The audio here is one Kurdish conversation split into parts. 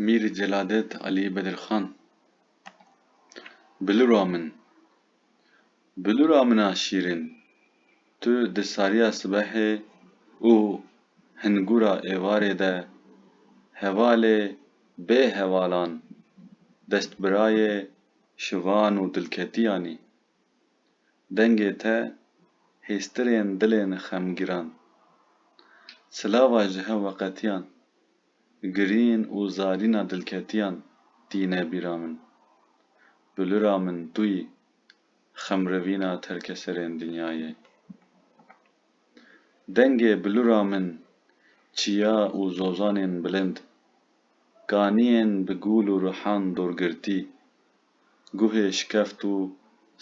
Mîr Celadet Alî Bedirxan Bilura min, bilura min a şîrîn, tu di sariya sibehê û hingûra êvarê de hevalê bê hevalan, destbirayê şivan û dilketiyan î. dengê te hêstirên dilên xemgîran. Silava ji hev weqetiyan, girîn û zarîna dilketiyan tîne bîra min. Bi lira min tu yî, xemrivîna terkeserên dinyayê. Dengê bi lira min çiya û zozanên bilind, kaniyên bi gûl û rihan dorgirtî Guhê şikeft û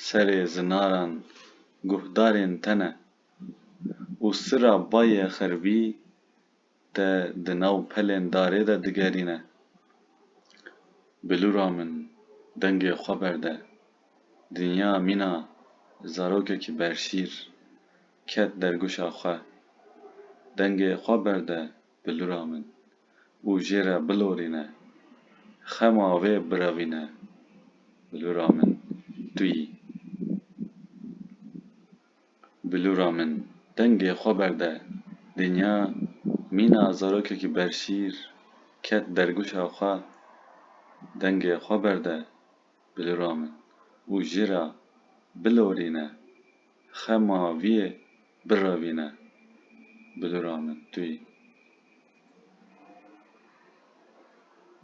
serê zinaran guhdarên te ne û sira bayê xeribî te di nav pelên darê de digerîne. Bilûra min, dengê xwe berde. Dinya mîna zarokekî berşîr ket derguşa xwe. Dengê xwe berde bilura min û jê re bilorîne, xema wê birevîne bilura min tu yî. Bilura min dengê xwe berde dinya mîna zarokekî berşîr ket dergûşa xwe dengê xwe berde bilura min û jê re bilorîne. Xema vîyê birevîne bi dûra min tuyî.